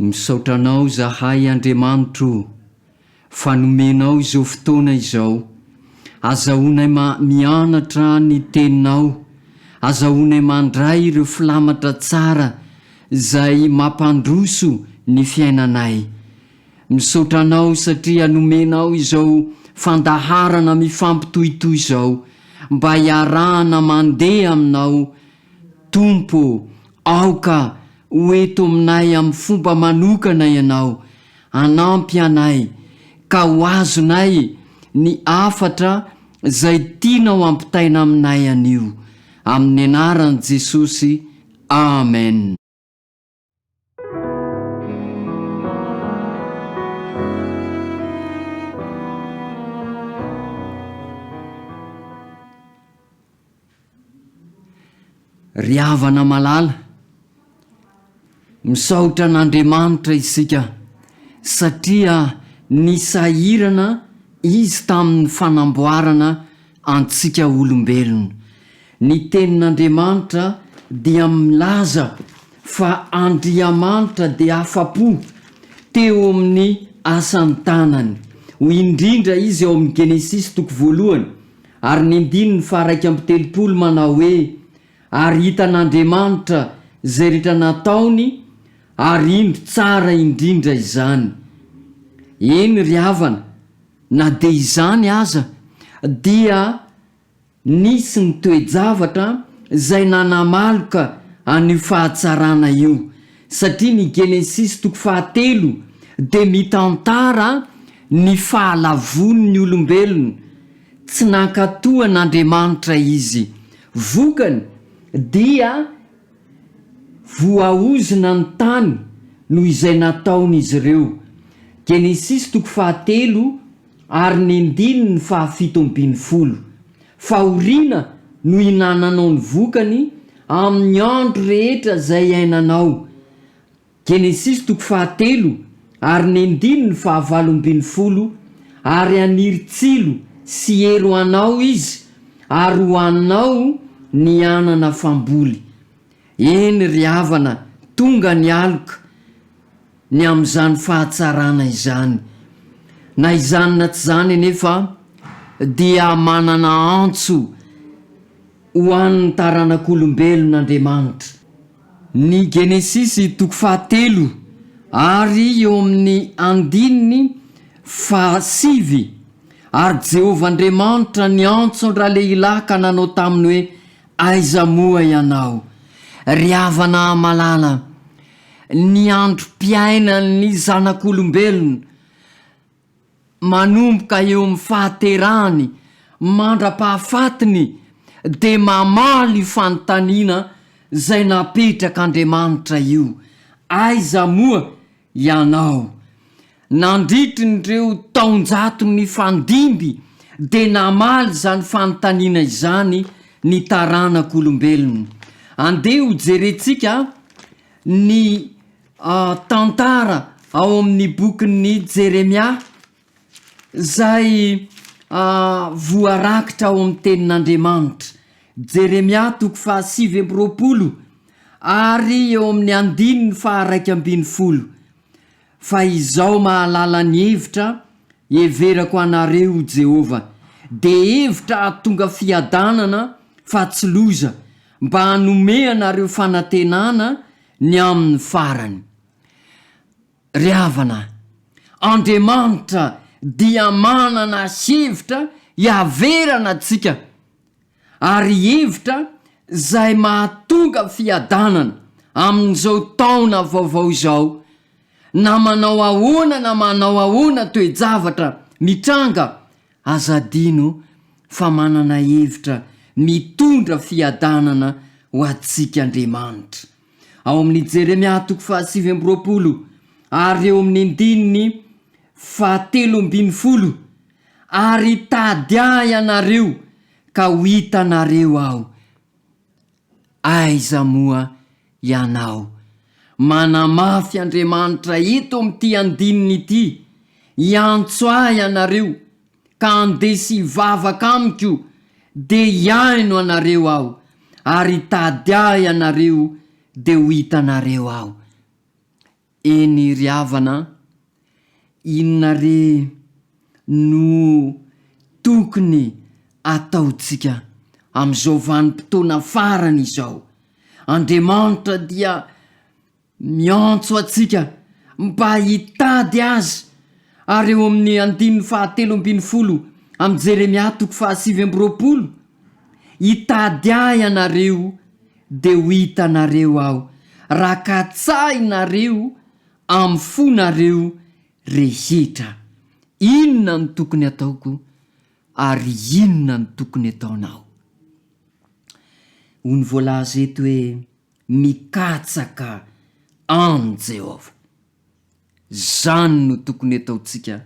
Misaotra Anao zahay Andriamanitro o, fa nomenao izao fotoana izao. Azahoanay ma mianatra ny Teninao, azahoanay mandray ireo filamatra tsara izay mampandroso ny fiainanay. Misaotra Anao satria nomenao izao fandaharana mifampitohitohy izao mba hiarahana mandeha Aminao Tompo ô, aoka ho eto aminay amin'ny fomba manokana Ianao, hanampy anay, ka ho azonay ny hafatra izay tianao hampitaina aminay anio. Amin'ny anaran'i Jesosy, amen. Ry havana malala, misaotra an'Andriamanitra isika satria nisahirana Izy tamin'ny fanamboarana Antsika olombelona. Ny Tenin'Andriamanitra dia milaza fa Andriamanitra dia afa-po teo amin'ny asan'ny tanany. Hoy indrindra Izy ao amin'ny Genesisy toko voalohany ary ny andininy faha-iraika amby telopolo manao hoe, Ary hitan'Andriamanitra izay rehetra nataony, ary indro tsara indrindra izany. Eny ry havana, Na dia izany aza, dia nisy ny toe-javatra izay nanamaloka an'io fahatsarana io, satria ny Genesisy toko fahatelo dia mitantara ny fahalavoan'ny olombelona. Tsy nankatò an'Andriamanitra izy. Vokany, dia. Voaozona ny tany noho izay nataon'izy ireo. Genesisy toko fahatelo ary ny andininy fahafito ambin'ny folo. Fahoriana no hinananao ny vokany amin'ny andro rehetra izay iainanao. Genesisy toko fahatelo ary ny andininy fahavalo ambin'ny folo Ary haniry tsilo sy hery ho anao Izy, ary ho anao ny hanana famboly. Eny ry havana, tonga ny aloka, ny amin'izany fahatsarana izany. Na izany na tsy izany anefa dia manana antso ho an'ny taranak'olombelona Andriamanitra. Ny Genesisy toko fahatelo ary eo amin'ny andininy fahasivy, Ary Jehovah Andriamanitra niantso an-dralehilahy ka nanao taminy hoe, Aiza moa ianao? Ry havana malala, ny androm-piainan'ny zanak'olombelona, manomboka eo amin'ny fahaterahany mandra-pahafatiny dia mamaly io fanontaniana izay napetrak'Andriamanitra io, Aiza moa Ianao? Nandritry ny ireo taonjato nifandimby dia namaly izany fanontaniana izany ny taranak'olombelona. Andeha hojerentsika ny. tantara ao amin'ny bokin'i Jeremia izay voarakitra ao amin'ny tenin'Andriamanitra. Jeremia toko fahasivy amby roapolo ary eo amin'ny andininy faharaika ambin'ny folo. Fa izao mahalala ny hevitra heverako anareo ho Jehovah, dia hevitra hahatonga fiadanana fa tsy loza, mba hanome anareo fanantenana Ny amin'ny farany. Ry havana, Andriamanitra dia manana hevitra hiaverana antsika, ary hevitra izay mahatonga fiadanana amin'izao taona vaovao izao, na manao ahoana na manao ahoana toe-javatra mitranga Aza adino fa manana hevitra mitondra fiadanana ho antsika Andriamanitra. Ao amin'ny Jeremia toko fahasivy amby roapolo ary eo amin'ny andininy fahatelo ambin'ny folo, Ary tady ahy ianareo ka ho hitanareo aho. Aiza moa ianao? Manamafy Andriamanitra eto amin'ity andininy ity, Hiantso Ahy ianareo, ka handeha sy hivavaka Amiko, dia hihaino anareo Aho, ary hitady Ahy ianareo, dia ho hitanareo Aho. Eny ry havana an! Inona re no tokony ataontsika amin'izao vanim-potoana farany izao? Andriamanitra dia miantso antsika mba hitady Azy, ary eo amin'ny andininy fahatelo ambin'ny folo amin'i Jeremia toko fahasivy amby roapolo, Hitady Ahy ianareo Dia ho hitanareo aho raha katsahinareo amin'ny fonareo rehetra inona no tokony ataoko ary inona no tokony ataonao. Hoy ny voalaza eto hoe mikatsaka an'i Jehovah. Izany no tokony hataontsika,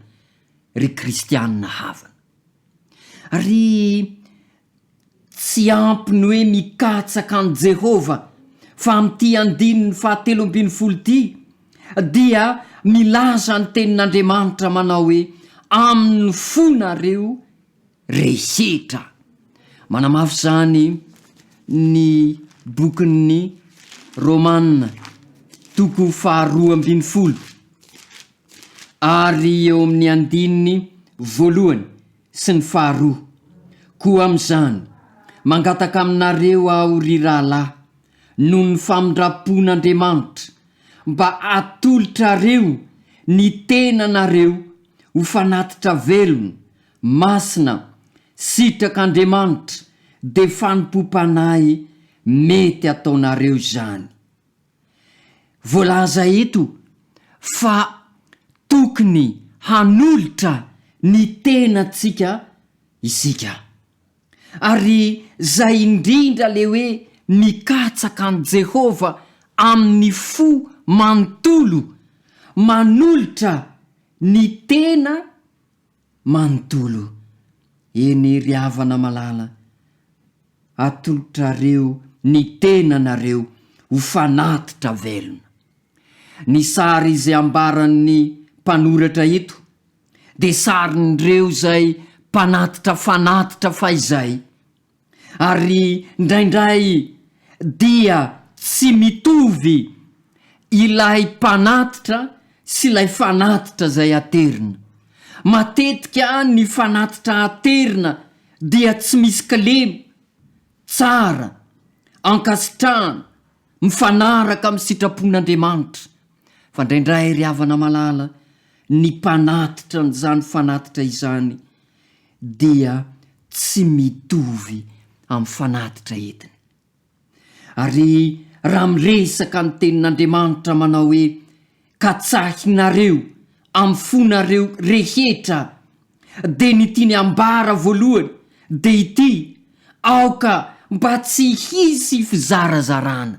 ry kristiana havana. Ary tsy ampy ny hoe mikatsaka an'i Jehovah, fa amin'ity andininy fahatelo ambin'ny folo ity, dia milaza ny Tenin'Andriamanitra manao hoe, Amin'ny fo nareo, rehetra. Manamafy izany ny bokin'ny Romana, toko faharoa ambin'ny folo ary eo amin'ny andininy voalohany sy ny faharoa, Koa amin'izany, mangataka aminareo aho, ry rahalahy, noho ny famindram-pon'Andriamanitra, mba hatolotrareo ny tenanareo ho fanatitra velona, Masina, sitrak'Andriamanitra, dia fanompoam-panahy mety ataonareo izany. Voalaza eto fa tokony hanolotra ny tenantsika isika. Ary izay indrindra ilay hoe mikatsaka an'i Jehovah amin'ny fo manontolo, manolotra ny tena, Manontolo, eny ry havana malala, atolotrareo ny tenanareo ho fanatitra velona. Ny sary izay ambaran'ny mpanoratra eto dia sarin'ireo izay mpanatitra fanatitra fahizay. Ary indraindray dia tsy mitovy ilay mpanatitra sy ilay fanatitra izay aterina. Matetika ny fanatitra aterina dia tsy misy kilema, tsara, ankasitrahana, mifanaraka amin'ny sitrapon'Andriamanitra, fa indraindray ry havana malala, ny mpanatitra an'izany fanatitra izany dia tsy mitovy amin'ny fanatitra entiny. Ary raha miresaka ny tenin'Andriamanitra manao hoe Katsahinareo amin'ny fonareo rehetra dia ny tiany ambara voalohany dia ity, aoka mba tsy hisy fizarazarana.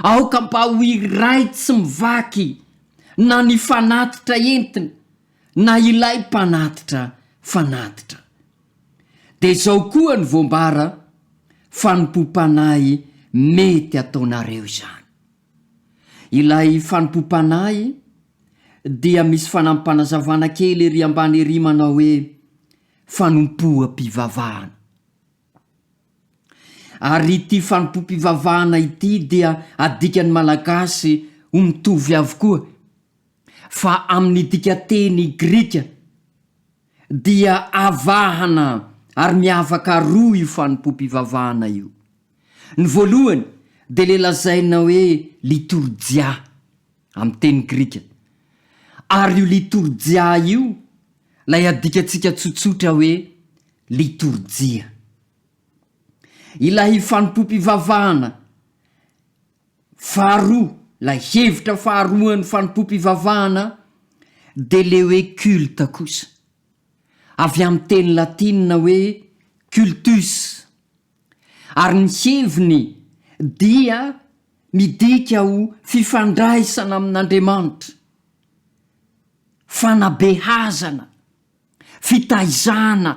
Aoka mba ho iray tsy mivaky na ny fanatitra entina na ilay mpanatitra fanatitra. Dia izao koa no voambara, Fanompoam-panahy mety ataonareo izany. Ilay fanompoam-panahy dia misy fanampim-panazavana kely ery ambany ery manao hoe fanompoam-pivavahana. Ary ity fanompoam-pivavahana ity dia adikan'ny malagasy ho mitovy avokoa, fa amin'ny dikateny grika dia avahana ary miavaka roa io fanompoam-pivavahana io. Ny voalohany dia ilay lazaina hoe litorjia, amin'ny teny grika. Ary io litorjia io ilay adikantsika tsotsotra hoe litorjia. Ilay fanompoam-pivavahana. Faharoa, ilay hevitra faharoan'ny fanompoam-pivavahana Deleuwe culte kosa, avy amin'ny teny latina hoe cultus, ary ny heviny dia midika ho fifandraisana amin'Andriamanitra, fanabeazana, fitaizana,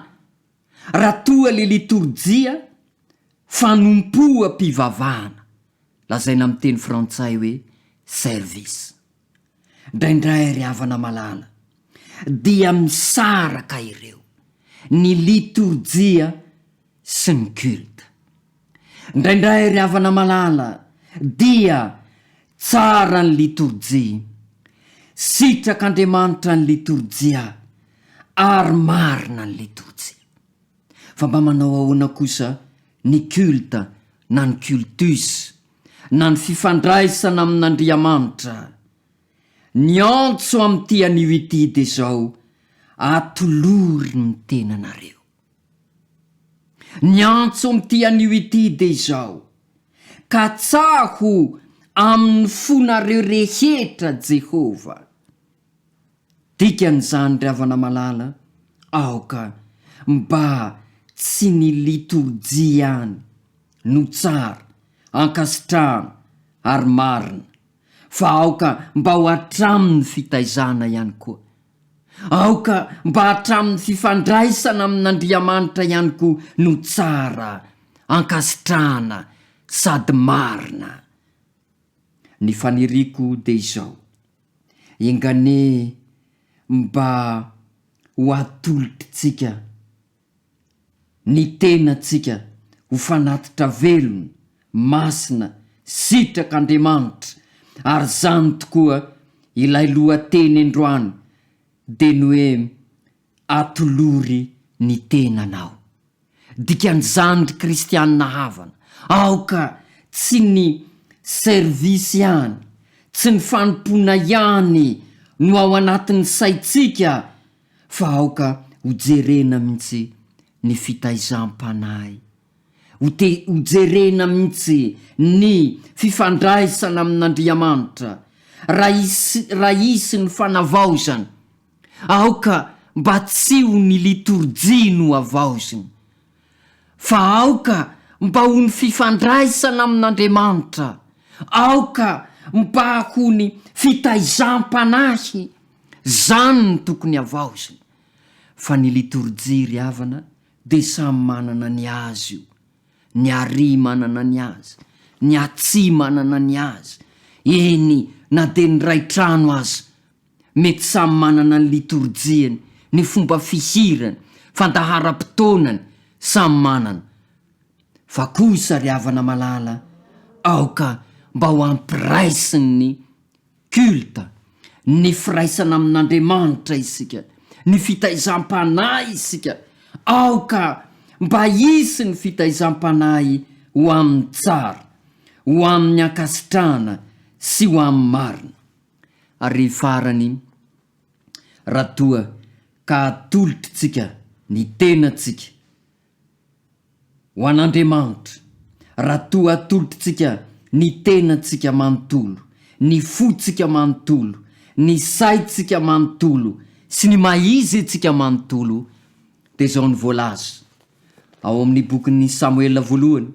Raha toa le litorjia fanompoam-pivavahana lazaina amin'ny teny frantsay hoe service ndraindray ry havana malala dia misaraka ireo ny litorjia sy ny culte. Indraindray ry havana malala dia tsara ny litorjia. Sitrak'Andriamanitra ny litorjia ary marina ny litorjia. Fa mba manao ahoana kosa ny culte na ny cultus na ny fifandraisana amin'Andriamanitra? Niantso amin'ity anio ity dia izao, Atolory ny tenanareo. Ny antso amin'ity anio ity dia izao, Katsaho amin'ny fonareo rehetra Jehovah. Dikan'izany ry havana malala, aoka mba tsy ny litorjia ihany no tsara, ankasitrahana ary marina. fa aoka mba ho hatramin'ny fitaizana ihany koa. Aoka mba hatramin'ny fifandraisana amin'Andriamanitra ihany koa no tsara, ankasitrahana sady marina. Ny faniriako dia izao, enganie mba ho atolotr'tsika. ny tenantsika ho fanatitra velona, masina, sitrak'Andriamanitra, ary zany tokoa ilay lohateny androany dia ny hoe atolory ny tenanao. Dikan'izany ry kristianina havana, aoka tsy ny service ihany, tsy ny fanompoana ihany no ao anatin'ny saintsika, fa aoka ho jerena mintsy ny fitaizam-panahy, ho te ho jerena mintsy ny fifandraisana amin'Andriamanitra, raha hisy raha hisy ny fanavaozana, aoka mba tsy ho ny litorjia no havaozina, fa aoka mba ho ny fifandraisana amin'Andriamanitra, aoka mba ho ny fitaizam-panahy, zany no tokony havaozina. Fa ny litorjia ry havana dia samy manana ny azy io, ny Ari manana ny azy, ny Atsi manana ny azy, eny na dia ny ray trano aza Mety samy manana ny litorjiany, ny fomba fihirany, fandaharam-potoanany, samy manana. Fa kosa ry havana malala, aoka mba ho ampiraisiny ny culte, ny firaisana amin'Andriamanitra isika, ny fitaizam-panahy isika, aoka mba hisy ny fitaizam-panahy ho amin'ny tsara, ho amin'ny ankasitrahana sy ho amin'ny marina. Ary farany, raha toa ka atolotr'tsika ny tenantsika ho an'Andriamanitra, raha toa atolotr'tsika ny tenantsika manontolo, ny fotsika manontolo, ny saintsika manontolo sy ny maha-izentsika manontolo, dia izao no voalaza ao amin'ny bokin'ny Samoela Voalohany,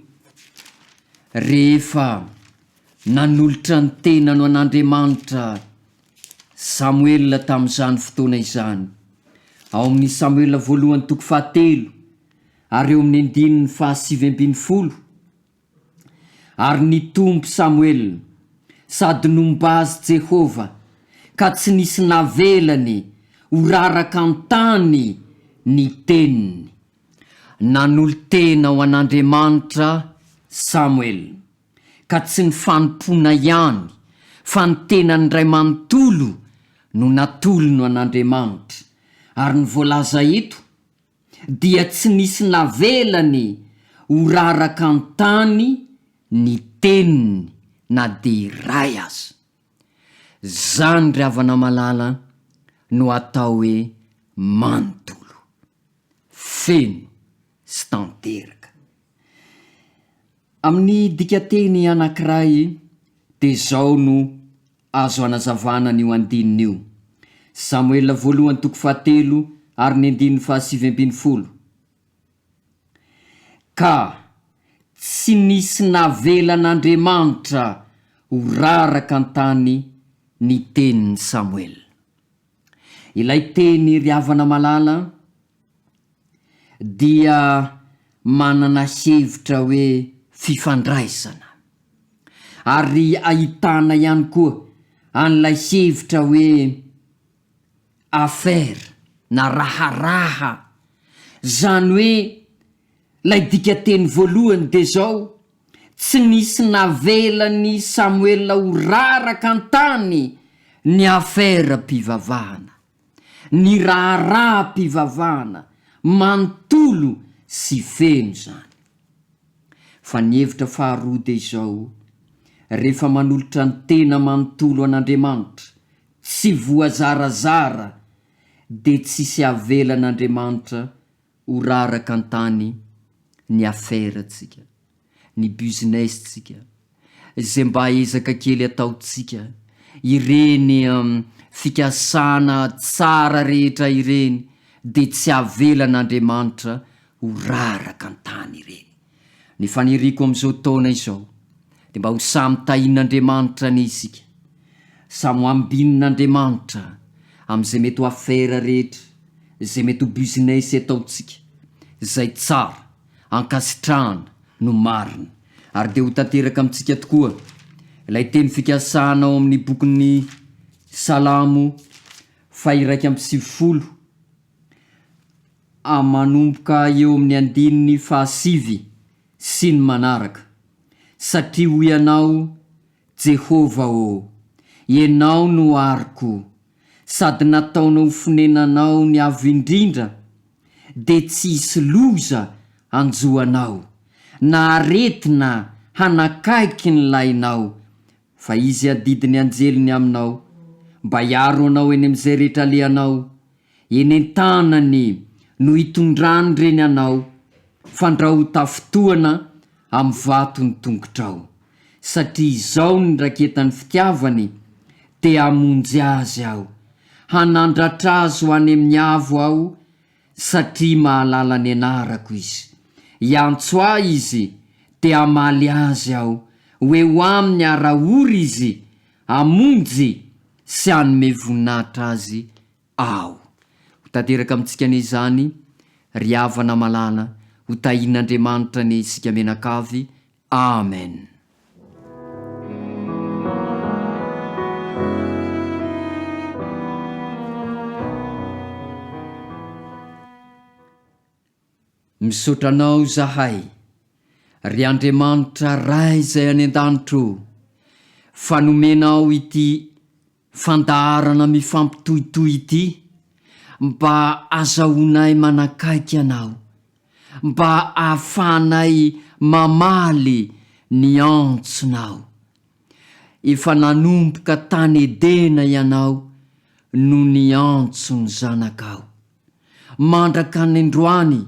Rehefa. Nanolotra ny tenany ho an'Andriamanitra Samoela tamin'izany fotoana izany. Ao amin'ny Samoela voalohany toko fahatelo ary eo amin'ny andininy fahasivy ambin'ny folo, Ary nitombo Samoela, sady nomba azy Jehovah, ka tsy nisy navelany ho raraka an-tany ny teniny. Nanolo-tena ho an'Andriamanitra Samoela. ka tsy ny fanompoana ihany fa ny tenany iray manontolo no natolony ho an'Andriamanitra, ary ny voalaza eto dia tsy nisy navelany ho raraka an-tany ny teniny na dia iray aza. Izany ry havana malala no atao hoe manontolo, feno sy tanteraka. Amin'ny dikanteny anankiray dia izao no azo hanazavana an'io andininy io, Samoela voalohany toko fahatelo ary ny andininy fahasivy ambin'ny folo, Ka tsy nisy navelan'Andriamanitra ho raraka an-tany ny tenin'i Samoela. Ilay teny ry havana malala an, dia manana hevitra hoe fifandraisana. Ary ahitana ihany koa an'ilay hevitra hoe affaire na raharaha. Izany hoe ilay dikateny voalohany dia izao. Tsy nisy navelan'i Samoela ho raraka an-tany ny aferam-pivavahana. Ny raharaham-pivavahana manontolo sy feno izany. Fa ny hevitra faharoa dia izao, rehefa manolotra ny tena manontolo an'Andriamanitra, tsy voazarazara, dia tsisy avelan'Andriamanitra Ho raraka an-tany ny afera-tsika, ny business-tsika, izay mba ezaka kely ataontsika, ireny fikasana tsara rehetra ireny dia tsy avelan'Andriamanitra ho raraka an-tany ireny. Ny faniriako amin'izao taona izao dia mba ho samy tahian'Andriamanitra anie isika, samy ho ambinin'Andriamanitra amin'izay mety ho afera rehetra, izay mety ho business ataontsika, izay tsara, ankasitrahana, no marina. Ary dia ho tanteraka amintsika tokoa ilay teny fikasana ao amin'ny bokin'ny Salamo faha-iraika amby sivifolo, A Manomboka eo amin'ny andininy fahasivy sy ny manaraka, Satria hoy ianao, Jehovah ô, ianao no ariko, sady nataonao ho fonenanao ny Avo Indrindra, dia tsy hisy loza hanjo anao, na aretina hanakaiky ny lainao, Fa izy adidy ny anjeliny aminao, mba hiaro anao eny amin'izay rehetra alehanao, eny an-tanany no hitondrany ireny anao, fandrao ho tafintohana amin'ny vato ny tongotrao, satria izao ny raketan'ny fitiavany, te-hamonjy azy aho, hanandratra azy ho any amin'ny avo aho, satria mahalala ny anarako izy. Hiantso ahy izy, dia hamaly azy aho, ho eo aminy ara-ory izy, hamonjy sy hanome voninahitra azy aho. Ho tanteraka amintsika anie izany, ry havana malala, ho tahian'Andriamanitra anie isika mianakavy. Amen. Misaotra anao zahay, ry Andriamanitra Ray izay any an-danitra o, fa nomenao ity Fandaharana mifampitohitohy ity mba azahoanay manakaiky Anao, mba ahafahanay mamaly ny antsonao. Efa nanomboka tany Edena Ianao no niantso ny Zanakao. Mandraka ny androany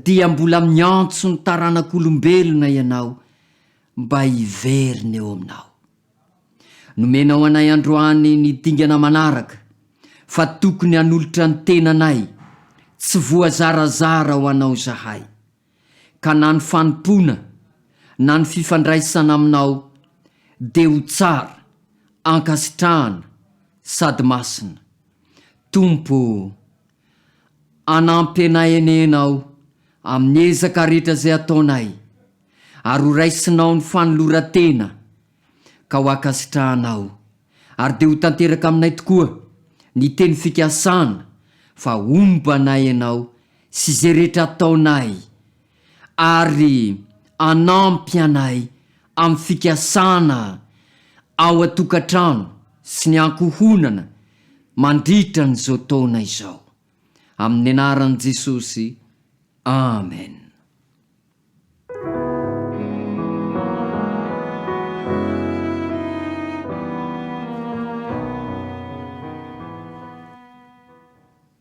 dia mbola miantso ny taranak'olombelona Ianao mba hiverina eo Aminao. Nomenao anay androany ny dingana manaraka fa tokony hanolotra ny tenanay tsy voazarazara ho Anao izahay, ka na ny fanompoana na ny fifandraisana aminao dia ho tsara, ankasitrahana sady masina. Tompo o! Anampenaenenao amin'ny ezaka rehetra izay ataonay, ary ho raisinao ny fanoloran-tena ka ho ankasitrahanao, ary dia ho tanteraka aminay tokoa ny teny fikasana fa homba anay ianao sy izay rehetra ataonay, ary hanampy anay amin'ny fikasana ao an-tokantrano sy ny ankohonana mandritra an'izao taona izao. Amin'ny anaran'i Jesosy, amen.